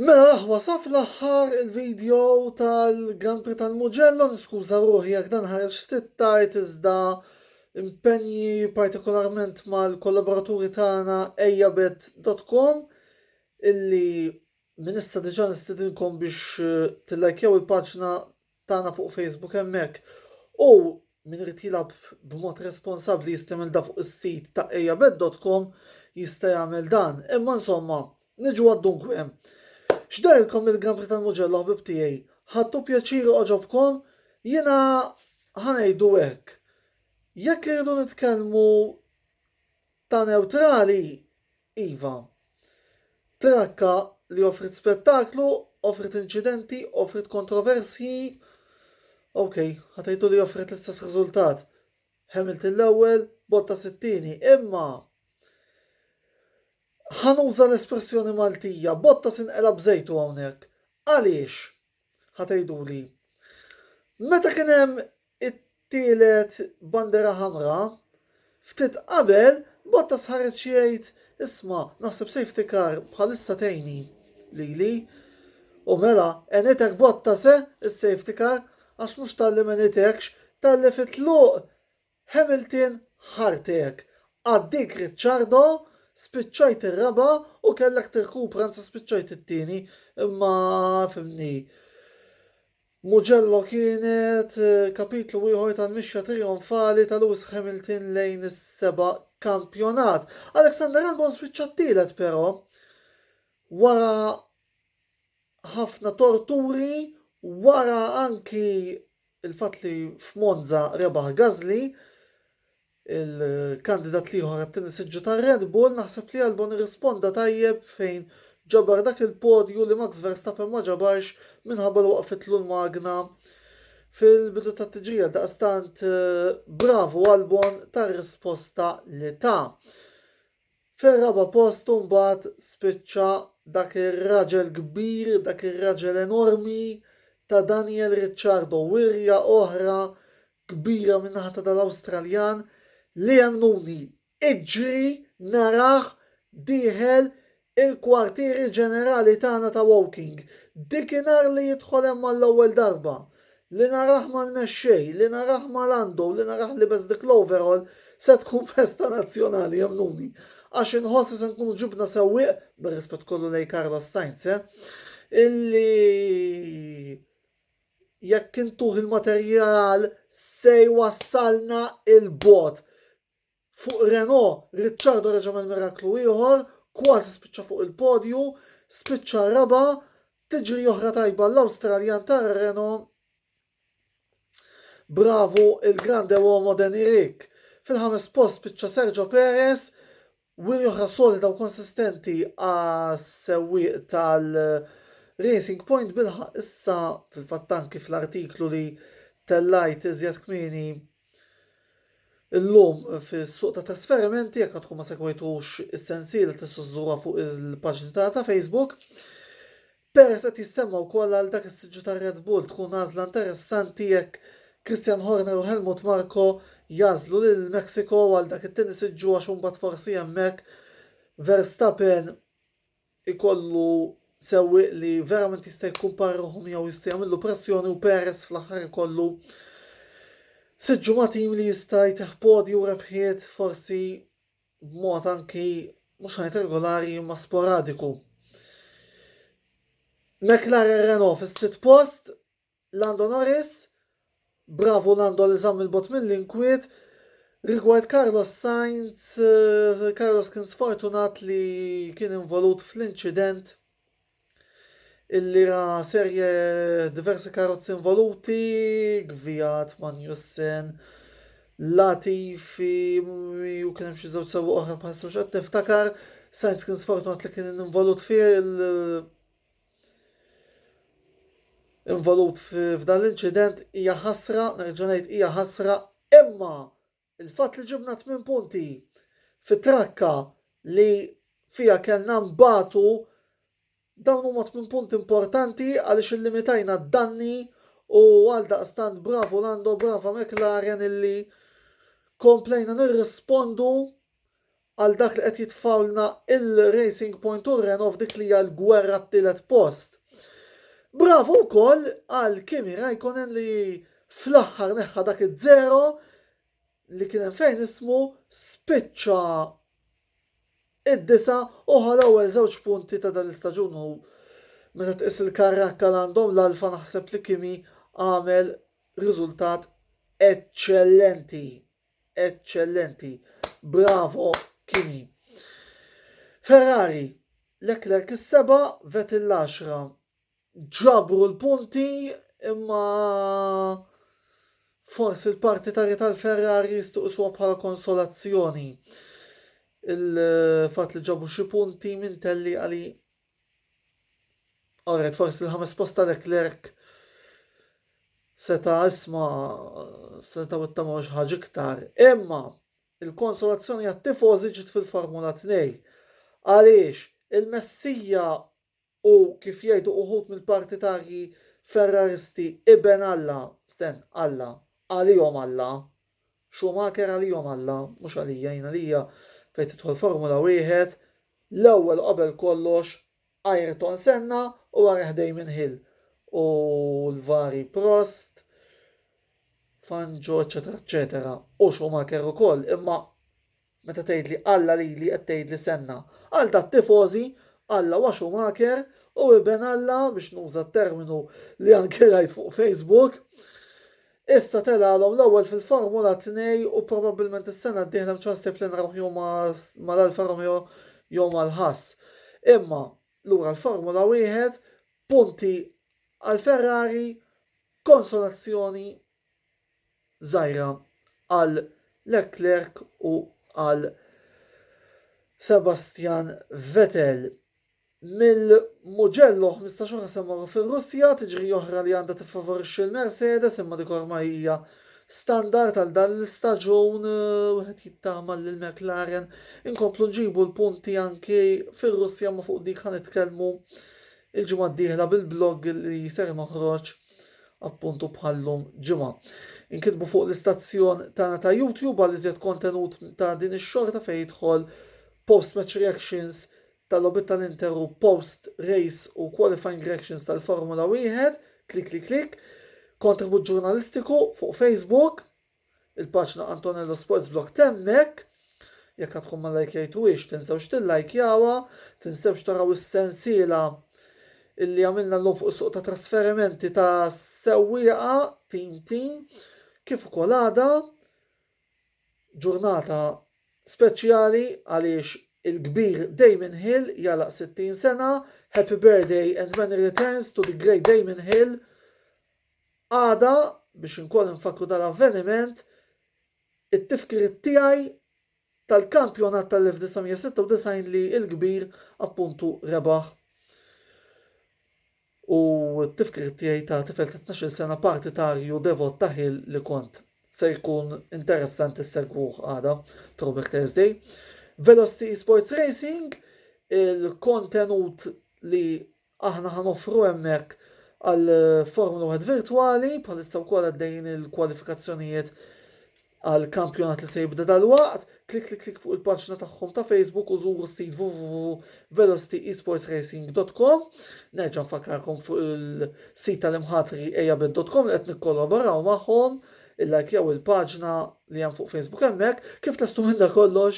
Mela l-aħwa saf l-aħħar il-video tal-Grand Prix tal-Mugello, niskuża ruħi jekk dan ħareġ ftit tard iżda impenji partikolarment mal-kollaboraturi tagħna ejjabet.com illi minn issa diġà nistidinkom biex eh, tillajkjaw il-paġna tagħna fuq Facebook hemmhekk u min irid jilgħab b'mod responsabbli jistimilda fuq is-sit ta' ejjabed.com jista' jagħmel dan. Imma insomma, niġu għad-dunkwe. X'dajlkom il-gambri tal-muġella ħbib tiegħi? Ħadtu pjaċir oġobkom? Jiena ħanejdu hekk. Jekk irridu nitkellmu ta' neutrali, Iva. Trakka li offriet spettaklu, offriet inċidenti, offriet kontroversji. Ok, ħatajtu li offriet l-istess riżultat. Hamilton l-ewwel, Bottas it-tieni, imma ħanuża l-espressjoni Maltija, Bottas inqela bżejtu hawnhekk. Għaliex? Ħa tgħiduli, meta kien hemm it-tielet bandera ħamra, ftit qabel Bottas ħareġ jgħid isma' naħseb safety car bħalissa tgħini lili. U mela, enitek Bottas eh, is-safety car, għax mhux talli ma enitekx, talli fit-tluq Hamilton ħartek. Għaddiek Ricciardo, spiċċajt ir-raba' u kellek tirkupra anzi spiċċajt it-tieni imma fhimni. Mugello kienet eh, kapitlu ieħor tal-mixja trijonfali ta' Lewis Hamilton lejn is-seba' kampjonat. Alexander Albon spiċċa t-tielet però wara ħafna torturi, wara anki Il-fatt li f'Monza rebaħ Gasly, il-kandidat l-ieħor għat-tieni siġġu tar-Red Bull, naħseb li Albon irrisponda tajjeb fejn ġabar dak il-podju li Max Verstappen ma ġabarx minħabba li waqfitlu l-magna fil-bidu tat-tiġrija. Daqstant bravu Albon tar-risposta li ta. Fir-raba' post imbagħad spiċċa dak ir-raġel kbir, dak ir-raġel enormi ta' Daniel Ricciardo, wirja oħra kbira min-naħa ta' dal-Awstraljan li emmnuni iġri narah dieħel il-kwartieri ġenerali tagħna ta' Woking. Dik inhar li jidħol hemm għall-ewwel darba. Li narah mal-mexxej, li narah ma' Lando, li narah libes dik l-overall, se tkun festa nazzjonali, emmnuni. Għax inħoss li se nkunu ġibna sewwieq, bir-rispett kollu lejn Carlos Sainz, eh, illi jekk intuh il-materjal se jwassalna 'il bogħod. Fuq Renault, Ricciardo reġa' għamel miraklu ieħor, kważi spiċċa fuq il-podju, spiċċa raba', tiġri oħra tajba għall-Awstraljan tar-Renault. Bravu il-grande uomo Dan Irik. Fil-ħames post spiċċa Sergio Perez, wiri oħra solida u konsistenti għas-sewwieq tal- Racing Point bilħa issa fil-fatt anki fl-artiklu li tellajt iżjed kmieni Illum fis-suq ta' trasferimenti jekk għadkom ma segwejtux is-sensiela tista' żżurha fuq il-paġni tagħna ta' Facebook. Perez qed jissemma wkoll għal dak is-siġġu ta' Red Bull tkun għażla interessanti jekk Christian Horner u Helmut Marko jagħżlu lil Mexico għal dak it-tieni siġġu għax imbagħad forsi hemmhekk Verstappen ikollu sewwieq li verament jista' jikkumpara ruħu miegħu jista' jagħmillu pressjoni u Perez fl-aħħar ikollu sitt ġumatim li jista' jteħ podi u rebħiet forsi b'mod anki mhux ħajt regolari imma sporadiku. McLaren Renault fis-sitt post Lando Norris, Bravu Lando li żamm 'il bogħod mill-inkwiet. Rigward Carlos Sainz, Carlos kien sfortunat li kien involut fl-inċident illi ra serje diversi karozzi involuti, Gviat, Magnussen, Latifi, u kien hemm xi żewġ sewwa oħra bħal sewġ qed niftakar, Sainz kien sfortunat li kien involut fih involut f'dan l-inċident hija ħasra, nerġa' ngħid hija ħasra, imma il-fatt li ġibna tmien punti fit-trakka li fija kellna mbatu dawn huma tmien punti importanti għaliex illimitajna d-danni u għal daqstant bravu Lando, brava McLaren illi komplejna nirrispondu għal dak li qed jitfgħulna il-Racing Point u r-Renault f'dik li hija l-gwerra t-tielet post. Bravo wkoll għal Kimi Raikkonen li fl-aħħar neħħa dak iż-żero li kien hemm fejn ismu spiċċa id-disa u ħa l-ewwel żewġ punti ta' dan l-istaġun u meta tqis il-karrakka l għandhom l-alfa naħseb li Kimi għamel riżultat eċċellenti. eċċellenti. Bravo Kimi. Ferrari, Leclerc is-seba, Vettel l-10. Ġabru l-punti imma forsi l-partitarji tal-Ferrari jistuqsuha bħala konsolazzjoni. Il-fatt li ġabu xi punti minn telli għali Alright, forsi l-ħames post ta' Leclerc seta' isma seta' wittama xi ħaġa iktar. Imma il-konsolazzjoni għat-tifożi ġiet fil-Formula 2. Għaliex il-Messija u kif jgħidu uħud mill-partitarji Ferraristi iben Alla, sten Alla, għalihom Alla, Schumacher għalihom Alla, mhux għalija, jien għalija fejn tidħol Formula Wieħed, l-ewwel u qabel kollox Ayrton Senna u warajh Damon Hill u l-vari Prost, Fangio, eċetera, eċetera, u Schumacher ukoll, imma Meta tgħidli Alla lili qed tgħidli Senna. Għal tat-tifożi, Alla huwa Schumacher u iben Alla, biex nuża t-terminu li anke rajt fuq Facebook. Issa telgħalhom l-ewwel fil-Formula 2 u probabbilment is-sena d-dieħla hemm ċans li nrawh jew mal-Alfa Romeo jew mal-Haas. Imma lura l-Formula Wieħed, punti għal Ferrari, konsolazzjoni żgħira għal Leclerc u għal Sebastian Vettel. Mill-Mugello 15 oħra se mmorru fir-Russja, tiġri oħra li għandha tiffavorixxi l-Mercedes imma dik ormai hija standard għal dan l-istaġun eh, wieħed jittama l McLaren inkomplu nġibu l-punti anki fir-Russja ma fuq dik ħan nitkellmu il-ġimgħa d-dieħla bil-blog li ser noħroġ appuntu bħallum ġimgħa. Inkitbu fuq l-istazzjon tagħna ta' YouTube għal iżjed kontenut ta' din ix-xorta fejn jidħol post match reactions tal-lobit tal-Interu post race u qualifying reactions tal-Formula 1, klik klik klik, kontribut ġurnalistiku fuq Facebook, Il-paġna Antonello Sports Vlog temmek. Jekk għad tkun ma lajkjajtuhiex, tinsewx tillajkjawha, tinsewx taraw is-sensiela illi għamilna llum fuq is-suq ta' trasferimenti ta' sewwieqa tim tim kif ukoll għada ġurnata speċjali għaliex il-kbir Damon Hill jalaq 60 sena. Happy birthday and many returns to the great Damon Hill. Għada, biex inkoll infakkru dal-avveniment, it-tifkiriet tiegħi tal-kampjonat tal-1996 li l-kbir appuntu rebaħ u t-tifkiriet tiegħi ta' tifel ta' 12 sena partitarju devot ta' Hill li kont. Se jkun interessanti segwuh għada, Throwback Thursday. Velocity Esports Racing, il-kontenut li Aħna ħa noffru hemmhekk għal Formula Wieħed virtwali, bħalissa wkoll għaddejjin il-kwalifikazzjonijiet għal kampjonat li se jibda dalwaqt, klik klik klik fuq il-paġna tagħhom ta' Facebook u żuru s-sit www.velocityesportsracing.com. Nerġa' nfakkarkom fuq il-sit tal-imħatri ejabet.com li qed nikkollaboraw magħhom, illajkjaw il-paġna li hemm fuq Facebook hemmhekk, kif testu minn kollox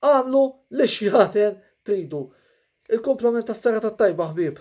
Agħmlu li xjaħder tridu. Il-kumplament tas-serata t-tajba ħbieb.